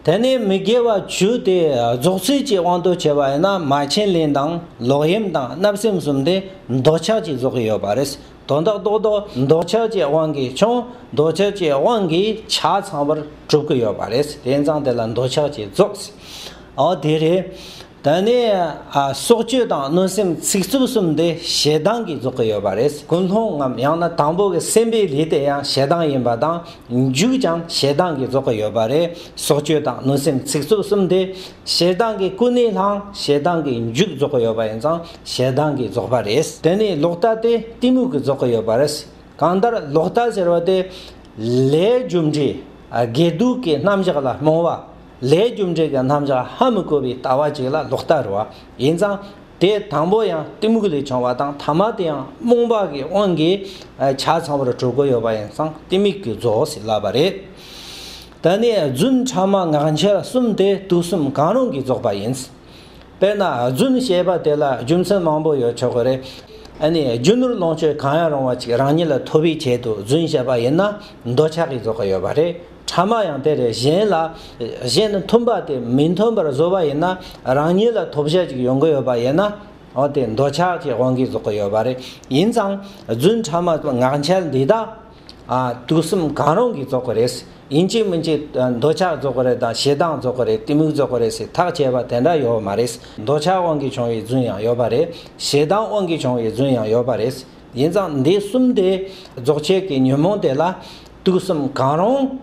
དེ་ནས་མི་དགེ་བ་བཅུ་སྟེ་རྫོགས་ཚུལ་གྱི་དབང་དུ་བྱས་པ་ཡིན་ན་མ་བྱིན་ལེན་དང་ལོག་གཡེམ་དང་བརྣབ་སེམས་གསུམ་དེ་འདོད་ཆགས་ཀྱིས་རྫོགས་ཀྱི་ཡོད་པ་རེད། དོན་དག་རྟོགས་དོ་འདོད་ཆགས་ཀྱི་དབང་གིས་ཀྱང་འདོད་ཆགས་ཀྱི་དབང་གིས་ཆ་ཚང་བར་གྲུབ་ཀྱི་ཡོད་པ་རེད། དེ་མཚང་དེ་ལ་འདོད་ཆགས་ཀྱིས་རྫོགས། འོ་དེ་རེད། དེ་ནས་སྲོག་གཅོད་དང་གནོད་སེམས་ཚིག་རྩུབ་གསུམ་འདི་ཞེ་སྡང་གིས་རྫོགས་ཀྱི་ཡོད་པ་རེད་ཀུན་སློང་ངམ་ཡང་ན་དང་པོ་གི་སེམས་པའི་ལས་དེ་ཡང་ཞེ་སྡང་ཡིན་པ་དང་མཇུག་ཀྱང་ཞེ་སྡང་གིས་རྫོགས་ཀྱི་ཡོད་པ་རེད་སྲོག་གཅོད་དང་གནོད་སེམས་ཚིག་རྩུབ་གསུམ་འདི་ཞེ་སྡང་གི་ཀུན་ནས་བསླང་ཞེ་སྡང་གི་མཇུག་རྫོགས་ཀྱི་ཡོད་པ་ཡིན་ཙང་ཞེ་སྡང་གིས་རྫོགས་པ་རེད་དེ་ནས་ལོག་ལྟ་སྟེ་གཏི་མུག་གིས་རྫོགས་ཀྱི་ཡོད་པ་རེད་གང་ལྟར་ལོག་ལྟ་ཟེར་བ་དེ་ལས་རྒྱུ་འབྲས་དགེ་སྡུག་གི་རྣམ་གཞག་ལ་རྨོངས་བ། ལྷའི་རྒྱུ་འབྲས་ཀྱི་རྣམ་གཞག་ཧ་མི་གོ་བའི་ལྟ་བ་གཅིག་ལ་ལོག་ལྟ་རུ་བ་ཡིན་ཙང། དེ་དང་པོ་ཡང་གཏི་མུག་ལས་བྱུང་བ་དང་ཐ་མ་དེ་ཡང་རྨོངས་པ་གི་དབང་གིས་ཆ་ཚང་བར་གྲུབ་གོ་ཡོད་པ་ཡིན་ཙང་གཏི་མུག་གི་རྫོགས་སུ་བསླབ་པ་རེད། ད་ནི་རྫུན་ཕྲ་མ་ངག་འཁྱལ་གསུམ་དེ་དུག་གསུམ་གང་རུང་གིས་རྫོགས་པ་ཡིན། དཔེར་ན་རྫུན་བཤད་པ་དེ་ལ་རྒྱུ་མཚན་མང་པོ་ཡོད་ཆོག་གི་རེད། ཨ་ནི་རྒྱུ་ནོར་ལོངས་སྤྱོད་གང་ཡང་རུང་བ་ཅིག་རང་ཉིད་ལ་ཐོབ་པའི་ཆེད་དུ་རྫུན་བཤད་པ་ཡིན་ན་འདོད་ཆགས་ཀྱིས་རྫོགས་གི་ཡོད་པ་རེད། ཕྲ་མ་ཡང་དེ་རེད་གཞན་ལ། གཞན་ནི་མཐུན་པ་དེ་མི་མཐུན་པར་བཟོ་བ་ཡིན་ན་རང་ཉིད་ལ་ཐོབ་བྱ་ཅིག་ཡོང་གི་ཡོད་པ་ཡིན་ན། འོ་དེ་འདོད་ཆགས་ཀྱི་དབང་གིས་བཟོ་གི་ཡོད་པ་རེད། ཡིན་ཙང་རྫུན་ཕྲ་མ་ངག་འཁྱལ་འདི་དག། དུག་གསུམ་གང་རུང་གིས་བཟོ་གི་རེད། ཡིན་གཅིག་མིན་གཅིག་འདོད་ཆགས་བཟོ་གི་རེད་དང་ཞེ་སྡང་བཟོ་གི་རེད་གཏི་མུག་བཟོ་གི་རེད་ཟེར་ཐག་བཅད་པ་དེ་འདྲ་ཡོད་མ་རེད། འདོད་ཆགས་དབང་གིས་བྱུང་བའི་རྫུན་ཡང་ཡོད་པ་རེད། ཞེ་སྡང་དབང་གིས་བྱུང་བའི་རྫུན་ཡང་ཡོད་པ་རེད། ཡིན་ཙང་འདི་གསུམ་དེ་རྫོགས་ཆེན་གྱི་ཉོན་མོངས་དེ་ལ་དུག་གསུམ་གང་རུང་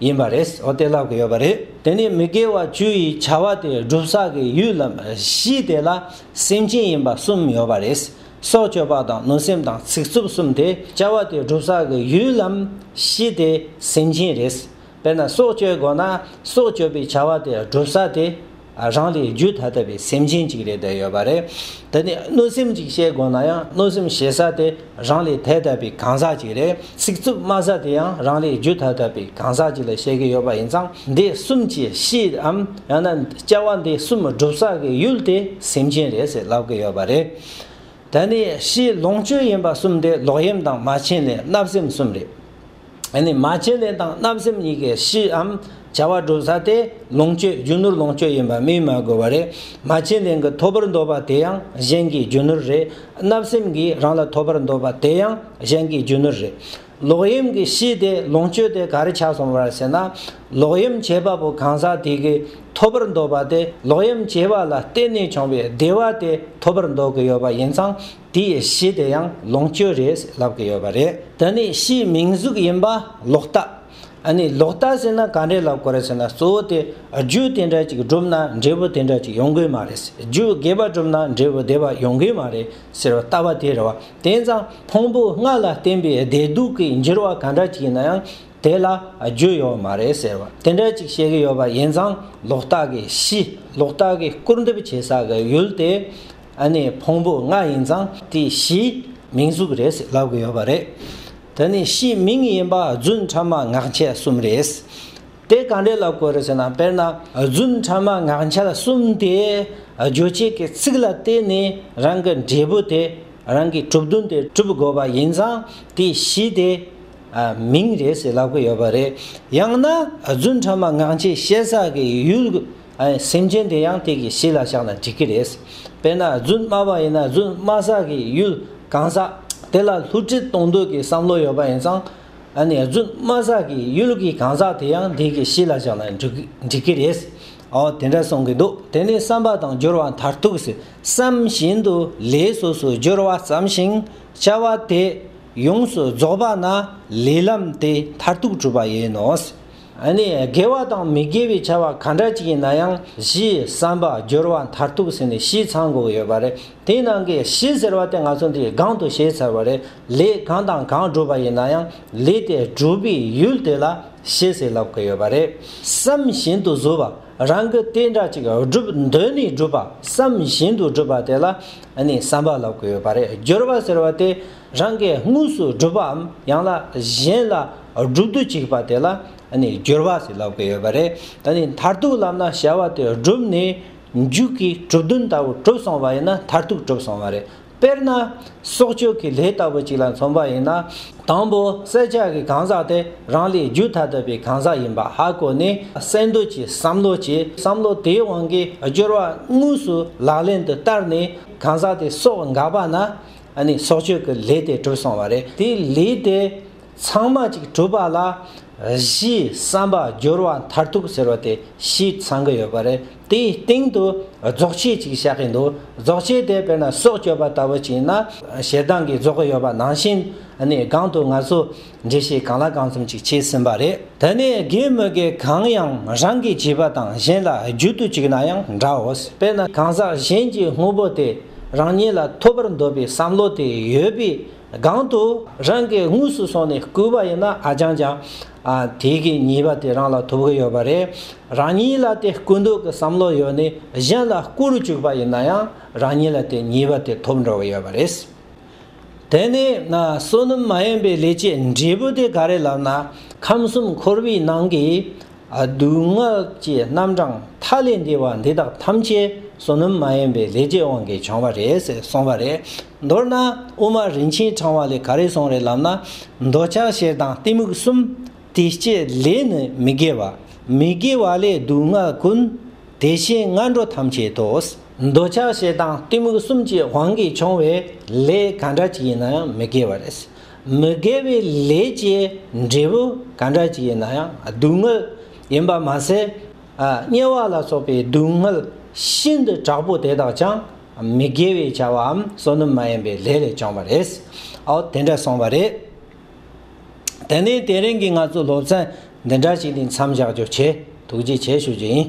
ཡིན་པ་རེད་ཨོ་དེ་ལབ་གི་ཡོད་པ་རེད་དེ་ནི་མི་དགེ་བ་བཅུ་ཡི་བྱ་བ་དེ་སྒྲུབ་ས་གི་ཡུལ་ལམ་བཞི་དེ་ལ་སེམས་ཅན་ཡིན་པ་གསུམ་ཡོད་པ་རེད་སྲོག་གཅོད་པ་དང་གནོད་སེམས་དང་ཚིག་རྩུབ་གསུམ་དེ་བྱ་བ་དེ་སྒྲུབ་ས་གི་ཡུལ་ལམ་བཞི་དེ་སེམས་ཅན་རེད། དཔེར་ན་སྲོག་གཅོད་དགོས་ན་སྲོག་གཅོད་པའི་བྱ་བ་དེ་སྒྲུབ་ས་དེ་རང་ལས་རྒྱུད་ཐ་དད་པའི་སེམས་ཅན་ཅིག་རེད་བསྡད་ཡོད་པ་རེད། དེ་ནས་གནོད་སེམས་ཅིག་བཤད་དགོས་ན་ཡང་གནོད་སེམས་བྱེད་ས་དེ་རང་ལས་ཐད་དད་པའི་གང་ཟག་ཅིག་རེད། ཚིག་རྩུབ་སྨྲ་ས་དེ་ཡང་རང་ལས་རྒྱུད་ཐ་དད་པའི་གང་ཟག་ཅིག་ལ་བཤད་ཀྱི་ཡོད་པ་ཡིན་ཙང་འདི་གསུམ་གྱི་གཤིསའམ་ཡང་ན་སྐྱེ་བ་འདི་གསུམ་སྒྲུབ་ས་གི་ཡུལ་དེ་སེམས་ཅན་རེད་ཟེར་ལབ་ཀྱི་ཡོད་པ་རེད། དེ་ནས་ཕྱིའི་ལོངས་སྤྱོད་ཡིན་པ་གསུམ་དེ་ལོག་གཡེམ་དང་མ་བྱིན་ལེན་བརྣབ་སེམས་གསུམ་རེད། ཨ་ནི་མ་བྱིན་ལེན་དང་བརྣབ་སེམས་གཉིས་ཀའི་གཞིའམ་བྱ་བ་སྒྲུབ་ས་དེ་ལོངས་སྤྱོད་རྒྱུ་ནོར་ལོངས་སྤྱོད་ཡིན་པ་སྨིན་མ་དགོས་པ་རེད། མ་བྱིན་ལེན་གྱི་ཐོབ་པར་འདོད་པ་དེ་ཡང་གཞན་གྱི་རྒྱུ་ནོར་རེད། བརྣབ་སེམས་ཀྱིས་རང་ལ་ཐོབ་པར་འདོད་པ་དེ་ཡང་གཞན་གྱི་རྒྱུ་ནོར་རེད། ལོག་གཡེམ་གྱི་གཞི་དེ་ལོངས་སྤྱོད་དེ་ག་རེ་ཆགས་སོང་བར་ཟེར་ན། ལོག་གཡེམ་བྱེད་པ་པོ་གང་ཟག་དེ་གིས་ཐོབ་པར་འདོད་པ་དེ་ལོག་གཡེམ་བྱེད་པ་ལ་བརྟེན་ནས་བྱུང་བའི་བདེ་བ་དེ་ཐོབ་པར་འདོད་ཀྱི་ཡོད་པ་ཡིན་ཙང། དེ་ཡི་གཞི་དེ་ཡང་ལོངས་སྤྱོད་རེད་ལབ་ཀྱི་ཡོད་པ་རེད། ད་ནི་ཕྱིའི་མིང་གཟུགས་ཡིན་པ་ལོག་ལྟ། ཨ་ནི་ལོག་ལྟ་ཟེར་ན་ག་འདྲས་ལབ་དགོས་རེད་ཟེར་ན་གཙོ་བོ་དེ་རྒྱུ་དེ་འདྲ་ཅིག་བསྒྲུབ་ན་འབྲས་བུ་དེ་འདྲ་ཅིག་ཡོང་གི་མ་རེད། རྒྱུ་རྒྱས་པ་བསྒྲུབ་ན་འབྲས་བུ་བདེ་བ་ཡོང་གི་མ་རེད་ཟེར་བ་ལྟ་བ་དེ་རེད་བ། དེང་སང་ཕུང་པོ་ལྔ་ལ་བརྟེན་པའི་བདེ་སྡུག་གི་འགྱུར་བ་ག་འདྲ་ཅིག་ཡིན་ན་ཡང་དེ་ལ་རྒྱུ་ཡོད་མ་རེད་ཟེར་བ་དེ་འདྲ་ཅིག་བཤད་ཀྱི་ཡོད་པ་ཡིན་ཙང་ལོག་ལྟ་གི་གཞི་ལོག་ལྟ་གི་སྐུར་འདེབས་བྱེད་ས་གི་ཡུལ་དེ་ཨ་ནེ་ཕུང་པོ་ལྔ་ཡིན་ཙང་དེ་གཞིའི་མིང་གཟུགས་རེད་ཟེར་ལབ་གི་ཡོད་པ་རེད། དེ་ནི་གཞིའི་མིང་ཡིན་པ་རྫུན་ཕྲ་མ་ངག་འཁྱལ་གསུམ་རེད། དེ་གང་འདྲས་ལབ་དགོས་རེད་ཟེར་ན་དཔེར་ན་རྫུན་ཕྲ་མ་ངག་འཁྱལ་གསུམ་དེ་རྗོད་བྱེད་ཀྱི་ཚིག་ལ་བརྟེན་ནས་རང་གི་འབྲས་བུ་དེ་རང་གི་གྲུབ་དོན་དེ་གྲུབ་དགོས་པ་ཡིན་ཙང་དེ་གཞི་དེ་མིང་རེད་ཟེར་ལབ་གི་ཡོད་པ་རེད། ཡང་ན་རྫུན་ཕྲ་མ་ངག་འཁྱལ་བཤད་ས་ཀྱི་ཡུལ། སེམས་ཅན་དེ་ཡང་དེ་གི་གཤིས་ལ་བཞག་ན་འགྲིག་གི་རེད། དཔེར་ན་རྫུན་སྨྲ་བ་ཡིན་ན་རྫུན་སྨྲ་ས་གི་ཡུལ་གང་ཟག་དེ་ལ་ལྷུ་སྤྲུལ་གཏོང་འདོད་ཀྱི་བསམ་བློ་ཡོད་པ་ཡིན་ཙང། རྫུན་སྨྲ་ས་གི་ཡུལ་གྱི་གང་ཟག་དེ་ཡང་དེ་གི་གཤིས་ལ་བཞག་ན་འགྲིག་གི་རེད། དེ་འདྲ་གསུང་གི་འདུག་དེ་ནི་བསམ་པ་དང་སྦྱོར་བ་མཐར་ཐུག་སི་བསམ་བཞིན་དུ་ལས་སོ་སོའི་སྦྱོར་བ་བསམ་ཞིང་བྱ་བ་དེ་ཡོངས་སུ་རྫོགས་པ་ན་ལས་ལམ་དེ་མཐར་ཐུག་གྲུབ་པ་ཡིན་ནོ། ནི་དགེ་བ་དང་མི་དགེ་བའི་བྱ་བ་ག་འདྲ་ཅིག་ཡིན་ན་ཡང་གཞི་བསམ་པ་སྦྱོར་བ་མཐར་ཐུག་ཟིན་ནས་གཞི་ཚང་དགོས་ཡོད་པ་རེད་དེའི་ནང་གི་གཞི་ཟེར་བ་དེ་ང་ཚོ་འདིའི་སྒང་དུ་བཤད་ཚར་བ་རེད་ལས་གང་དང་གང་སྒྲུབ་པ་ཡིན་ན་ཡང་ལས་དེ་སྒྲུབ་པའི་ཡུལ་དེ་ལ་གཞི་ཟེར་ལབ་དགོས་ཡོད་པ་རེད་བསམ་བཞིན་དུ་བཟོ་བ་རང་གི་ལྟས་འདྲ་ཅིག་སྒྲུབ་འདོད་ནས་སྒྲུབ་པ་བསམ་བཞིན་དུ་སྒྲུབ་པ་དེ་ལ་ནི་བསམ་པ་ལབ་དགོས་ཡོད་པ་རེད་སྦྱོར་བ་ཟེར་བ་དེ་རང་གིས་དངོས་སུ་བསྒྲུབ་པའམ་ཡང་ན་གཞན་ལ་བསྒྲུབ་ཏུ་བཅུག་པ་དེ་ལ་སྦྱོར་བ་ཞེས་ལབ་ཀྱི་ཡོད་པ་རེད། ད་ནི་མཐར་ཐུག་ལམ་ན་བྱ་བ་དེ་བསྒྲུབས་ནས་མཇུག་གི་གྲུབ་དོན་ལྟ་བུ་གྲུབ་སོང་བ་ཡིན་ན་མཐར་ཐུག་གྲུབ་སོང་བ་རེད། དཔེར་ན། གསོག་སྤྱོད་ཀྱི་ལས་ལྟ་བུ་ཅིག་ལ་མཚོན་པ་ཡིན་ན། དང་པོ་བསལ་བྱ་གི་གང་ཟག་དེ་རང་ལས་རྒྱུད་ཐ་དད་པའི་གང་ཟག་ཡིན་པ་ཧ་གོ་ནས་གསལ་འདོད་ཀྱི་བསམ་བློ་གྱིས་བསམ་བློ་དེའི་དབང་གིས་སྦྱོར་བ་དངོས་སུ་ལག་ལེན་དུ་བསྟར་ནས་གང་ཟག་དེ་གསོག་འགག་པ་ན་ཨ་ནི་སྲོག་གཅོད་ཀྱི་ལས་དེ་གྲུབ་སོང་བ་རེད། དེའི་ལས་དེ་ཚང་མ་གཅིག་གྲུབ་པ་ལ་གཞིས་བསམ་པ་སྦྱོར་བ་མཐར་ཐུག་ཟེར་བ་དེ་ཞིག་ཚང་གི་ཡོད་པ་རེད། དེའི་སྟེང་དུ་རྫོགས་ཆས་ཅིག་བཞག་གི་འདུག་རྫོགས་ཆས་དེ་དཔེར་ན་སྲོག་གཅོད་པ་ལྟ་བུ་ཅིག་ཡིན་ན། ཞེ་སྡང་གིས་རྫོགས་ཀྱི་ཡོད་པ་ནང་བཞིན་ཨ་ནི་སྒང་དུ་ང་ཚོ་འགྲེལ་བཤད་གང་ལ་གང་འཚམ་ཅིག་བྱས་ཟིན་པ་རེད། དེ་ནས་དགེ་མི་དགེ་གང་ཡང་རང་གིས་བྱས་པ་དང་གཞན་ལ་རྒྱུ་དུ་བཅུག་ན་ཡང་འདྲའོ། དཔེར་ན་གང་ཟག་གཞན་གྱི་དངོས་པོ་དེ་རང་ཉིད་ལ་ཐོབ་པར་འདོད་པའི་བསམ་བློ་དེ་ཡོད་པའི་སྒང་དུ་རང་གིས་དངོས་སུ་སོང་ནས་བརྐུས་པ་ཡིན་ན་ཨ་ཅང་ཅང། དེ་གའི་ཉེས་པ་དེ་རང་ལ་ཐོབ་ཀྱི་ཡོད་པ་རེད། རང་ཉིད་ལ་དེ་བརྐུ་འདོད་ཀྱི་བསམ་བློ་ཡོད་ནས་གཞན་ལ་བརྐུ་རུ་བཅུག་པ་ཡིན་ན་ཡང་རང་ཉིད་ལ་དེ་ཉེས་པ་དེ་ཐོབ་འགྲོ་གི་ཡོད་པ་རེད། དེ་ནས་བསོད་ནམས་མ་ཡིན་པའི་ལས་ཀྱི་འབྲས་བུ་དེ་ག་རེ་ལབ་ན་ཁམས་གསུམ་འཁོར་བའི་ནང་གི་སྡུག་བསྔལ་གྱི་རྣམ་གྲངས་མཐའ་ལས་འདས་པ་འདི་དག་ཐམས་ཅད་བསོད་ནམས་མ་ཡིན་པའི་ལས་ཀྱི་དབང་གིས་བྱུང་བ་རེད་ཟེར་གསུངས་པ་རེད། མདོར་ན་དབུ་མ་རིན་ཆེན་འཆང་བ་ལས་ག་རེ་གསུངས་རེད་ལབ་ན་འདོད་ཆགས་ཞེ་སྡང་གཏི་མུག་གསུམ་དེ་སྤྱད་ལས་ནི་མི་དགེ་བ། མི་དགེ་བ་ལས་སྡུག་བསྔལ་ཀུན། དེ་བཞིན་སྔ་འགྲོ་ཐམས་ཅད་དོ། འདོད་ཆགས་ཞེ་སྡང་གཏི་མུག་གསུམ་གྱི་དབང་གིས་བྱུང་བའི་ལས་ག་འདྲ་ཅིག་ཡིན་ན་ཡང་མི་དགེ་བ་རེད། མི་དགེ་བའི་ལས་ཀྱི་འབྲས་བུ་ག་འདྲ་ཅིག་ཡིན་ན་ཡང་སྡུག་བསྔལ་ཡིན་པར་མ་ཟད། དམྱལ་བ་ལ་སོགས་པའི་སྡུག་བསྔལ་ཤིན་ཏུ་དྲག་པོ་དེ་དག་ཀྱང་མི་དགེ་བའི་བྱ་བའམ་བསོད་ནམས་མ་ཡིན་པའི་ལས་ལས་བྱུང་བ་རེད། ཨོ་དེ་འདྲ་སོང་བ་རེད། དེ་ནས་དེ་རིང་གི་ང་ཚོའི་སློབ་ཚན་འདི་འདྲ་ཞིག་ནས་མཚམས་བཞག་རྒྱུ་བྱེད་ཐུགས་རྗེ་ཆེ་ཞུ་རྒྱུ་ཡིན།